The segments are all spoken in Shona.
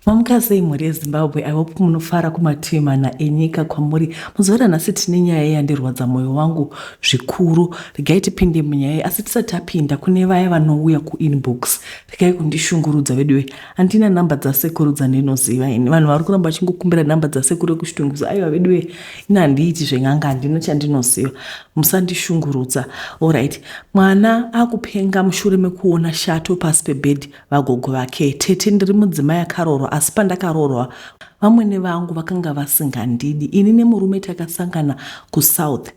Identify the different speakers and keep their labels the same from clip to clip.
Speaker 1: Mamuka sei mhuri yeZimbabwe, I hope munofara kumativi mana enyika kwamuri. Muzuva ranhasi tine nyaya yandirwadza moyo wangu zvikuru. Regai tipinde munyaya iyi asi tisati tapinda kune vaya vanouya kuinbox. Regai kundishungurudza veduwe. Handina number dzasekuru dzandinoziva ini. Vanhu vari kuramba vachingokumbira number dzasekuru vekushitungwiza. Aiwa veduwe, ini handiiti zven'anga handina chandinoziva. Musandishungurudza. Alright. Mwana akupenga mushure mekuona shato pasi pebed. Vagogo vake, Tete ndiri mudzimai akaroorwa asi pandakaroorwa vamwene vangu vakanga vasingandidi. Ini nemurume takasangana kuSouth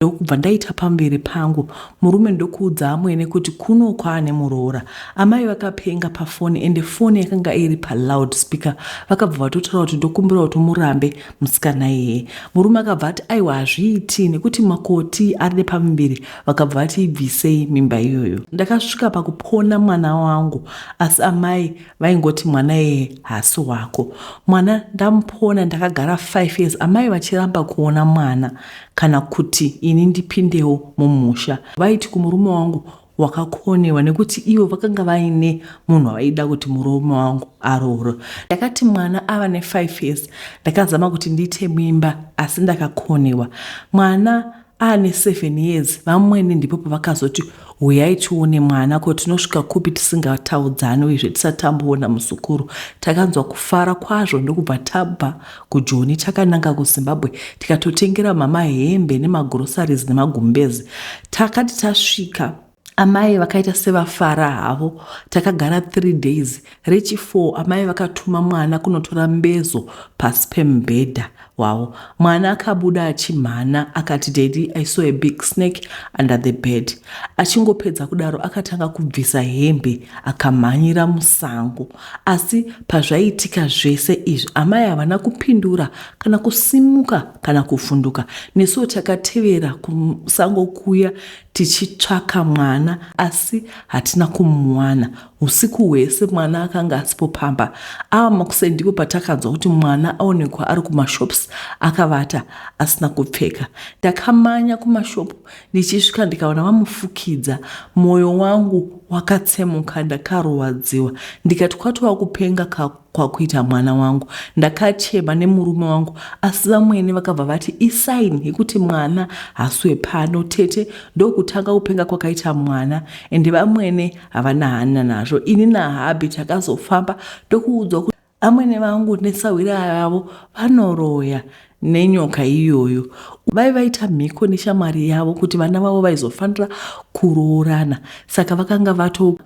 Speaker 1: ndokubva ndaita pamberi pangu murume ndokuudza amwene kuti kuno kwaane muroora. Amai vakapenga pafoni ende foni yakanga iri paloud speaker vakabva vatotaura kuti ndokumbira kuti murambe musikana iyeye. Murume akabva ati aiwa hazviiti nekuti makoti ari nepamuviri vakabva vati ibvisei mimba iyoyo. Ndakasvika pakupona mwana wangu asi amai vaingoti mwana iyeye haasi wako. Mwana ndamupona ndakagara 5 years amai vachiramba kuona mwana kana kuti ini ndipindewo mumusha. Vaiti kumurume wangu wakakonewa nekuti ivo vakanga vaine munhu wavaida kuti murume wangu aroore. Ndakati mwana ava ne 5 years ndakazama kuti ndiite mimba asi ndakakonewa. Mwana aane seven years vamwene ndipo pavakazoti huyai tione mwana ko tinosvika kupi tisingataudzani uyezve tisatamboona muzukuru takanzwa kufara kwazvo ndokubva tabva kujoni takananga kuzimbabwe tikatotengera mama hembe nemagrosaries nemagumbezi takati tasvika Amai vakaita sevafara havo. Takagara three days. Rechifour amai vakatuma mwana kunotora mbezo pasi pemubhedha wavo. Mwana akabuda achimhana akati, Daddy, I saw a big snake under the bed. Achingopedza kudaro akatanga kubvisa hembe akamhanyira musango. Asi pazvaiitika zvese izvi amai havana kupindura kana kusimuka kana kuvhunduka. Nesuwo takatevera kusango kuya tichitsvaka mwana asi hatina kumuwana. Husiku hwese mwana akanga asipo pamba. Ava makuseni ndipo patakanzwa kuti mwana aonekwa ari kumashops akavata asina kupfeka. Ndakamanya kumashopu ndichisvika ndikaona vamufukidza. Moyo wangu wakatsemuka ndakarwadziwa ndikati kwatova kupenga kako. kwakuita mwana wangu. Ndakachema nemurume wangu asi vamwene vakabva vati isign yekuti mwana haswe pano tete ndokutanga kupenga kwakaita mwana ende vamwene havana hana nazvo ini nahabi takazofamba tokuudzwa kuti amwene vangu nesahwira yavo vanoroya nenyoka iyoyo vai vaita mhiko neshamwari yavo kuti vana vavo vaizofanira kuroorana saka vakanga vato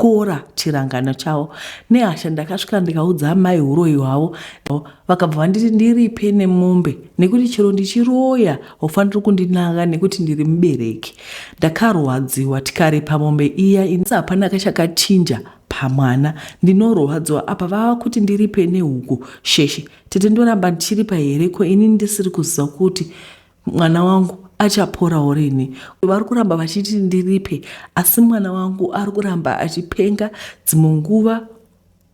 Speaker 1: kutyora chirangano chavo nehasha ndakasvika ndikaudza amai uroyi hwavo vakabva vanditi ndiripe nemombe nekuti chero ndichiroya ufaniri kundinanga nekuti ndiri mubereki ndakarwadziwa tikaripa mombe iya inisa hapana kachakachinja pamwana ndinorwadziwa apa vava kuti ndiripe nehuku sheshe tete ndoramba ndichiripa here ko ini ndisiri kuziva kuti Mwana wangu achaporawo rini? Vari kuramba vachiti ndiripe, asi mwana wangu ari kuramba achipenga. Dzimwe nguva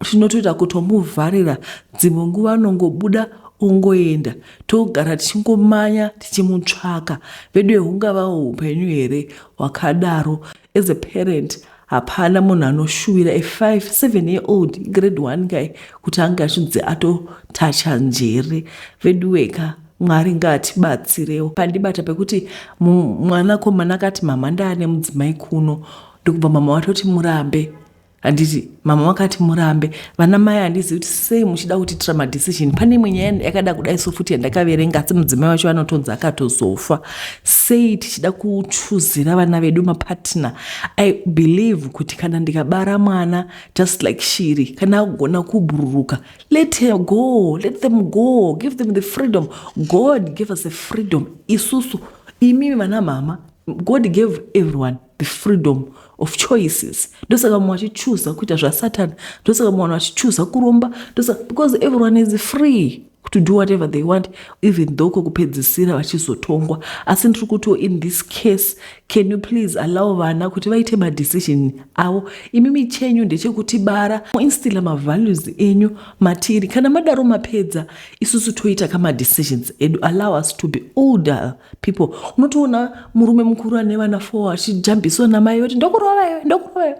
Speaker 1: tinotoita kutomuvharira, dzimwe nguva anongobuda ongoenda togara tichingomanya tichimutsvaka veduwe hungavawo upenyu here wakadaro as a parent hapana munhu anoshuvira a five seven year old grade one kai kuti ange achinzi atotacha njere veduweka mwari ngaatibatsirewo pandibata pekuti mwanakomana akati mama ndaane mudzimai kuno ndokubva mama vatoti murambe handiti mama vakati murambe vana mai handizivi kuti sei muchida kutiitira madecision pane imwe nyaya yakada kudai so futi yandakaverenga asi mudzimai wacho anotonzi akatozofa sei tichida kuchuzira vana vedu mapartner i believe kuti kana ndikabara mwana just like shiri kana agona kubhururuka let her go let them go give them the freedom god give us a freedom isusu imi vana mama god gave everyone the freedom of choices ndosaka vamwe vachichuza kuita zvasatan ndosaka vamwe vanhu vachichuza kuromba ndosaka because everyone is free to do whatever they want even though kokupedzisira vachizotongwa asi ndiri kutiwo in this case can you please allow vana kuti vaite madecision avo imi michenyu ndechekutibara muinstila mavalues enyu matiri kana madaro mapedza isusu toita kamadecisions edu allow us to be older people unotoona murume mukuru ane vana four achijambiswa namai yoti ndokurova iwe ndokurova iwe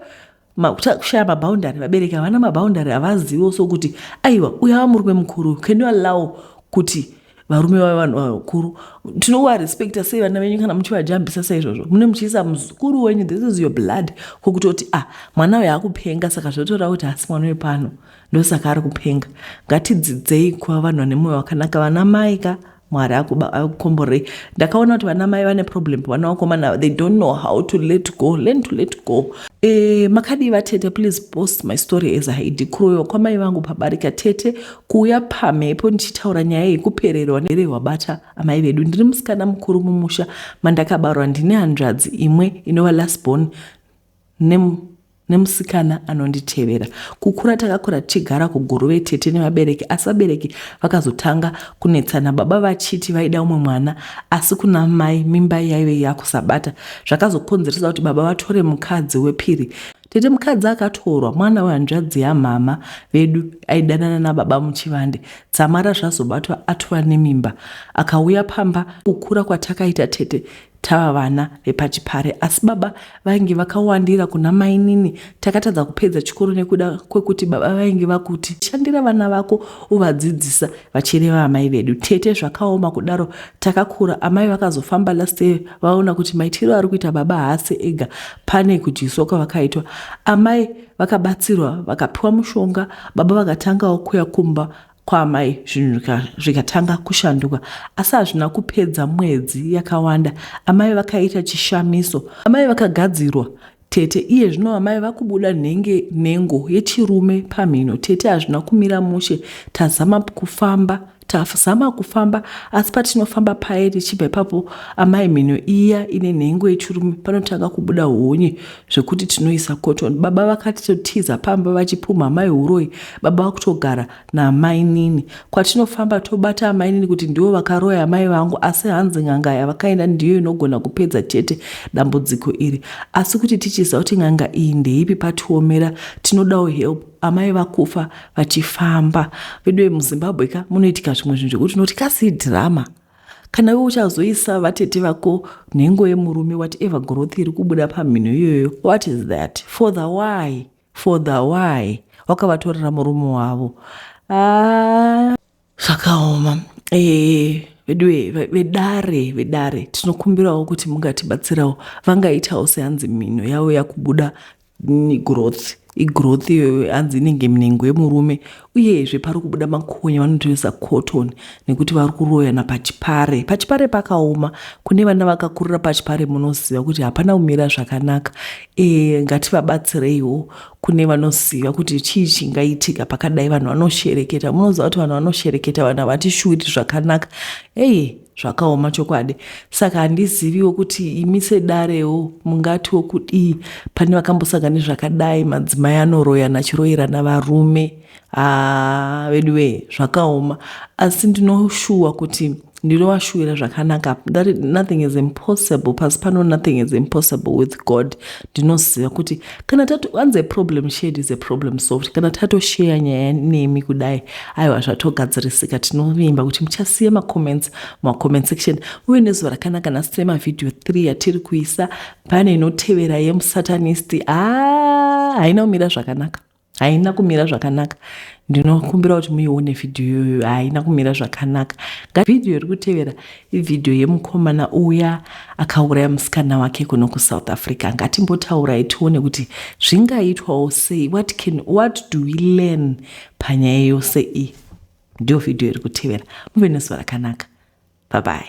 Speaker 1: kushaya maboundary vabereki havana maboundary havazivo so kuti aiwa uyo ava murume mukuru can you allow kuti varume vave vanhu vakuru tinovarespecta sei vana venyu kana muchivajambisa saizvozvo mune muchiisa muzukuru wenyu this is your blood kwokutoti ah mwana uyo akupenga saka zvotora kuti hasi mwana wepano ah, ndosaka ari kupenga ngatidzidzei kuva vanhu vane mwoyo wakanaka vana mai ka mwari akukomborei ndakaona kuti vana mai vane problem vana vakomana they don't know how to let go learn to let go e, makadii vatete please post my story as haidi kuroyiwa kwamai vangu pabarika tete kuuya pamhepo ndichitaura nyaya yekupererwa nerehwabata amai vedu ndiri musikana mukuru mumusha mandakabarwa ndine hanzvadzi imwe inova last born nem nemusikana anonditevera. Kukura takakura tichigara kuGuruve tete nevabereki asi vabereki vakazotanga kunetsana baba vachiti vaida umwe mwana asi kuna mai mimba yaive yakusabata zvakazokonzeresa kuti baba vatore mukadzi wepiri. Tete mukadzi akatorwa mwana wehanzvadzi yamhama vedu aidanana nababa muchivande. Dzamara zvazobatwa atova nemimba akauya pamba. Kukura kwatakaita tete Tava vana vepachipare asi baba vainge vakawandira kuna mainini. Takatadza kupedza chikoro nekuda kwekuti baba vainge vakuti shandira vana vako uvadzidzisa vachireva amai vedu. Tete zvakaoma kudaro takakura. Amai vakazofamba last year vaona kuti maitiro ari kuita baba haasi ega pane kudyiswa kwavakaitwa. Amai vakabatsirwa vakapiwa mushonga baba vakatangawo kuya kumba kwaamai zvinhu zvikatanga kushanduka asi hazvina kupedza mwedzi yakawanda amai vakaita chishamiso amai vakagadzirwa tete iye zvino amai vakubuda nenge nengo yechirume pamhino tete hazvina kumira mushe tazama kufamba tazama kufamba asi patinofamba paye tichibva ipapo amai mhino iya ine nhengo yechirume panotanga kubuda honye zvekuti tinoisa cotton baba vakatotiza pamba vachipumha amai huroyi baba vakutogara namainini kwatinofamba tobata amainini kuti ndivo vakaroya amai vangu asi hanzi n'anga yavakaenda ndiyo inogona kupedza chete dambudziko iri asi kuti tichiziva kuti n'anga iyi ndeipi patiomera tinodawo help amai vakufa vachifamba veduwe muzimbabwe ka munoitika zvimwe zvinhu zvekuti unoti kasi drama kana iwe uchazoisa vatete vako nhengo yemurume whatever growth iri kubuda pamhino iyoyo what is that for the why for the why wakavatorera murume wavo ah, zvakaoma eh, veduwe vedare vedare tinokumbirawo kuti mungatibatsirawo vangaitawo seanzi mhino yavo yakubuda growth igrowth iyoyo hanzi inenge minengo yemurume uyezve pari kubuda makonya vanotoisa cotton nekuti vari kuroyana pachipare pachipare pakaoma kune vana vakakurira pachipare munoziva kuti hapana kumira zvakanaka e, ngativabatsireiwo kune vanoziva kuti chii chingaitika pakadai vanhu vanoshereketa munoziva kuti vanhu vanoshereketa vanhu havati shuwiri zvakanaka eye Zvakaoma chokwadi saka handiziviwo kuti imi sedarewo mungatiwo kudii pane vakambosanga nezvakadai madzimai anoroyana achiroyerana varume haa ah, vedu wee zvakaoma asi ndinoshuwa kuti ndinovashuwira zvakanaka nothing is impossible pasi pano nothing is impossible with god ndinoziva kuti kana taanzi aproblem shared is aproblem solved kana tatosheya nyaya nemi kudai aiwa zvatogadzirisika tinovimba kuti muchasiya macomments mumacoment section uye nezuva rakanaka nhasi tine mavhidhiyo 3 yatiri kuisa pane inotevera yemusatanist a ah, haina kumira zvakanaka Haina kumira zvakanaka ndinokumbira kuti muione video iyoyo haina kumira zvakanaka video iri kutevera ivideo yemukomana uya akauraya musikana wake kuno kusouth africa ngatimbotaurai tione kuti zvingaitwawo sei what can what do we learn panyaya yose iyi ndiyo video iri kutevera muve nezuva rakanaka bye bye